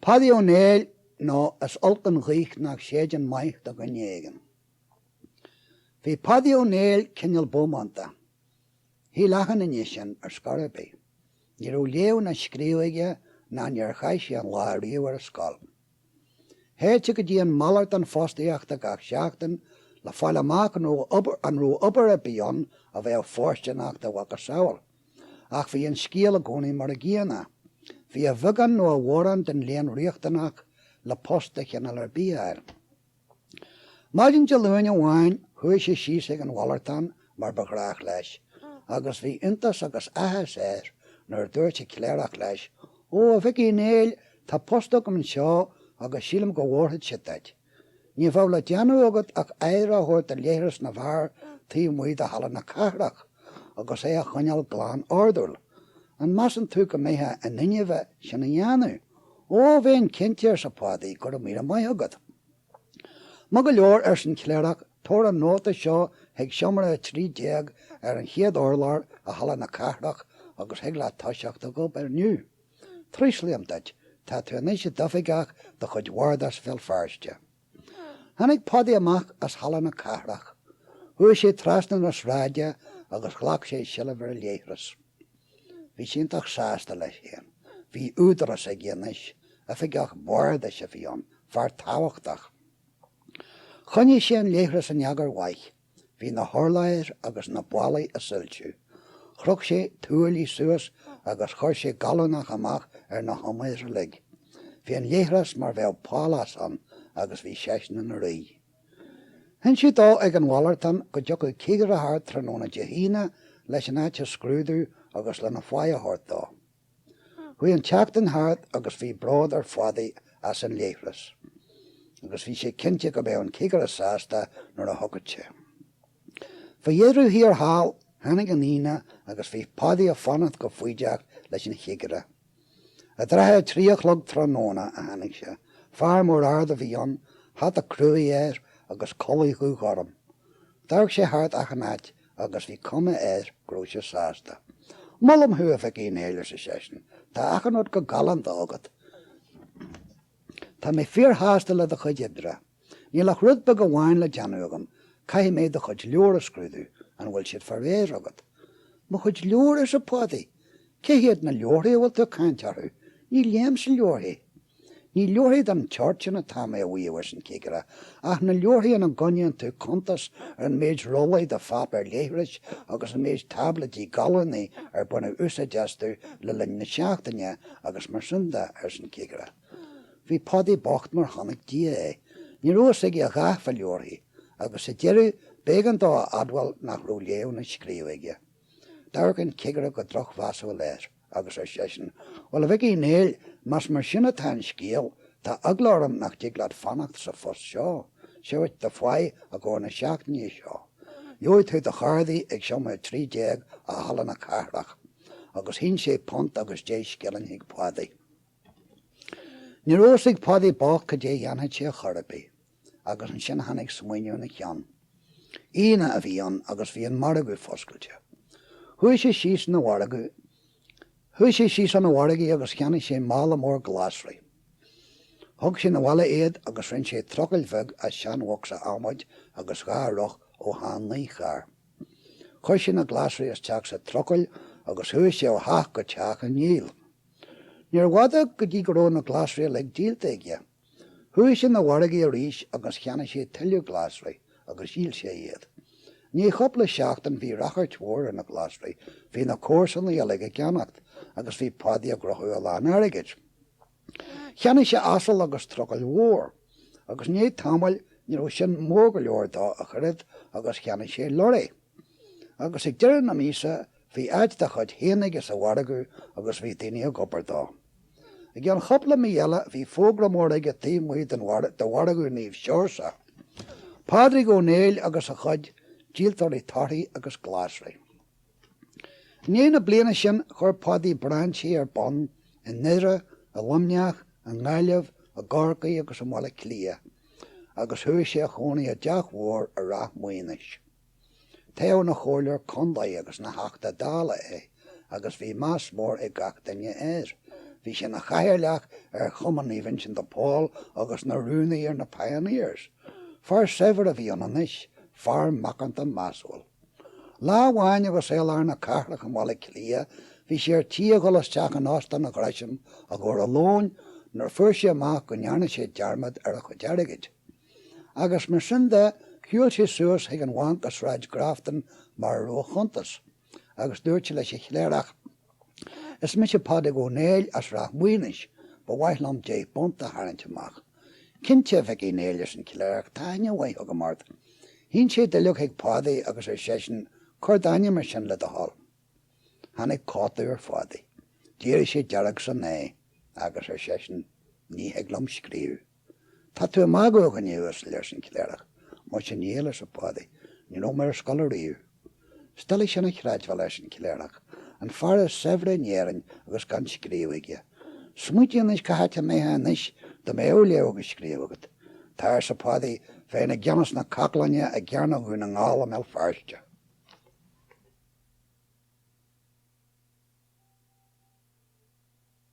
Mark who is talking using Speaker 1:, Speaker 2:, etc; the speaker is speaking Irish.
Speaker 1: Padaí Ó Néill, nó is olc an ghaoth nach séideann maith do dhuine éigin. Bhí Padaí Ó Néill cineál bómánta. Shíl achan duine sin, ar scor ar bith. Ní raibh léamh ná scríobh aige ná níor chaith sé aon lá ariamh ar an scoil. Théadh sé go dtí an malartán fostaíochta gach seachtain le fáil amach an raibh obair ar bith ann a bheadh fóirsteanach dá mhacasamhail. Ach bhí an scéal i gcónaí mar a gcéanna. Bhí a bheagán nó a mhórán den léann riachtanach le post de chineál ar bith a fháil. Maidin Dé Luain amháin chuaigh sé síos ag an mhalartán mar ba ghnách leis agus bhí iontas agus áthas air nuair a dúirt an cléireach leis, Ó, a Mhic Uí Néill, tá post agam anseo agus sílim go bhfóirfeadh sé duit. Ní bheadh le déanamh agat ach aire a thabhairt do leithreas na bhfear taobh amuigh de Halla na Cathrach agus é a choinneáil glan ordúil. An measann tú go mbeifeá in innimh é sin a dhéanamh? Ó, bheinn cinnte, arsa Padaí, go raibh míle maith agat. Maith go leor, arsa an cléireach, tabhair an nóta seo chuig seomra a trí déag ar an chéad urlár i Halla na Cathrach agus thig leat toiseacht ag obair inniu. Traoslaím duit, tá tú anois i d'oifigeach de chuid Bhardas Bhéal Feirste. Tháinig Padaí amach as Halla na Cathrach. Chuaigh sé trasna na sráide agus ghlac sé seilbh ar an leithreas. Bhí sé iontach sásta leis féin. Bhí údarás aige anois. Oifigeach Bardais a bhí ann, fear tábhachtach. Choinnigh sé an leithreas in eagar mhaith. Bhí na hurláir agus na ballaí ag soilsiú. Chroch sé tuaillí suas agus chuir sé gallúnach amach ar na humair uilig. Bhí an leithreas mar bheadh pálás ann agus bhí seisean ina rí. Hinsíodh dó ag an mhalartán go dtiocfadh cigire thart tráthnóna Dé hAoine leis an áit a scrúdú agus lena pháigh a thabhairt dó. Chuaigh an tseachtain thart agus bhí bród ar Phadaí as an leithreas agus bhí sé cinnte go mbeadh an cigire sásta nuair a thiocfadh sé. Faoi dheireadh thiar thall, tháinig an Aoine agus bhí Padaí ag fanacht go foighdeach leis an chigire. I dtrátha a trí a chlog tráthnóna a tháinig sé. Fear mór ard a bhí ann, hata cruaidh air agus culaith dhúghorm. D'amharc sé thart achan áit agus bhí cuma air go raibh sé sásta. Molaim thú, a Mhic Uí Néill, arsa seisean. Tá achan rud go galánta agat. Tá mé fíorshásta le do chuid oibre. Níl ach rud beag amháin le déanamh agam, caithfidh mé do chuid leabhar a scrúdú, an bhfuil siad fá réir agat? Mo chuid leabhar? arsa Padaí. Cé hiad na leabharthaí a bhfuil tú ag caint orthu? Ní léimse leabharthaí. Ní leabharthaí den tseort sin atá mé a mhaíomh, arsa an cigire, ach na leabharthaí ina gcoinníonn tú cuntas ar an méid rollaí de pháipéar leithris agus an méid táibléidí galúnaí ar baineadh úsáid astu le linn na seachtaine agus mar sin de, arsa an cigire. Bhí Pádaí bocht mar chonaic Dia é. Ní raibh fhios aige a dhath fá leabharthaí agus sa deireadh b'éigean dó a admháil nach raibh léamh ná scríobh aige. D'amharc an cigire go drochmheasúil air. Agus ar seisean, Bhuel, a Mhic Uí Néill, más mar sin atá an scéal, tá eagla orm nach dtig leat fanacht sa phost seo. Seo dhuit, do pháigh i gcomhair na seachtaine seo. Gheobhaidh tú do chárdaí ag seomra 13 i Halla na Cathrach. Agus shín sé punt agus deich scilling chuig Pádaí. Ní raibh fhios ag Pádaí bocht cad é a dhéanfadh sé chor ar bith. agus ansin tháinig smaoineamh ina cheann. Aoine a bhí ann agus bhí an margadh foscailte. Chuaigh sé síos 'na mhargadh, chuaigh sé síos 'na mhargaidh agus cheannaigh sé mála mór glasraí. Thug sé 'na bhaile iad agus rinn sé trucaill bheag as seanbhocsa adhmaid agus dhá roth ó shean-naícharr. Chuir sé na glasraí isteach sa trucaill agus chuaigh sé ó theach go teach á ndíol. Níorbh fhada go dtí go raibh na glasraí uilig díolta aige. Chuaigh sé 'na mhargaidh arís agus cheannaigh sé tuilleadh glasraí agus dhíol sé iad. I ndiaidh chúpla seachtain bhí ráchairt mhór ar na glasraí, bhí na comharsanaigh uilig á gceannacht agus bhí Pádaí ag gnóthú a lán airgid. Cheannaigh sé asal agus trucaill mhór agus i ndiaidh tamaill ní raibh sin mór go leor dó ach oiread agus cheannaigh sé lorry. Agus ag deireadh na míosa bhí áit dá chuid féin aige sa mhargadh agus bhí daoine ag obair dó. I gceann chúpla mí eile bhí fógra mór aige taobh amuigh de mhargadh Naomh Seoirse, Pádraig Ó Néill agus a chuid díoltóirí torthaí agus glasraí. I ndiaidh na bliana sin chuir Pádaí brainsí ar bun i nDoire, i Luimneach, i nGaillimh, i gCorcaigh agus i mBaile Átha Cliath. agus chuaigh sé a chónaí i dteach mhór i Ráth Maonais. Toghadh ina chomhairleoir contae agus ina theachta Dála é agus bhí meas mór ag gach duine air. Bhí sé ina chathaoirleach ar Chumann Naomh Uinseann de Pól agus ina rúnaí ar na Pioneers. Fear saibhir a bhí ann anois, fear macánta measúil. Lá amháin agus é i lár na cathrach i mBaile Átha Cliath bhí sé ar tí a dhul isteach in Óstán an Ghresham i gcomhair a lóin nuair a fuair sé amach go ndearna sé dearmad ar a chuid airgid. Agus mar sin de shiúil sé suas chuig an bhanc i Sráid Grafton mar a raibh a chuntas agus dúirt sé leis an chléireach Is mise Pádraig Ó Néill as Ráth Maonais. Ba mhaith liom deich bpunt a tharraingt amach. Cinnte, a Mhic Uí Néill, ars' an Cléireach, tá aithne mhaith agam ort. Shín sé duilleog chuig Pádaí agus ar seisean, Cuir d'ainm ar sin le do thoil. Tháinig cotadh ar Phádaí. D'éirigh sé dearg san aghaidh, agus ar seisean, Ní thig liom scríobh. Tá tú ag magadh a dhuine uasail, arsa an cléireach. Maise níl, arsa Pádaí, ní raibh mé ar scoil ariamh. Is doiligh sin a chreidbheáil, arsa an cléireach. An fear is saibhre in Éirinn agus gan scríobh aige. Smaoitigh anois cá háit a mbeifeá anois dá mbeadh léamh agus scríobh agat. Tá, arsa Pádaí, bheinn i gceannas na caclainne i gCearnóg Dhún na nGall i mBéal Feirste.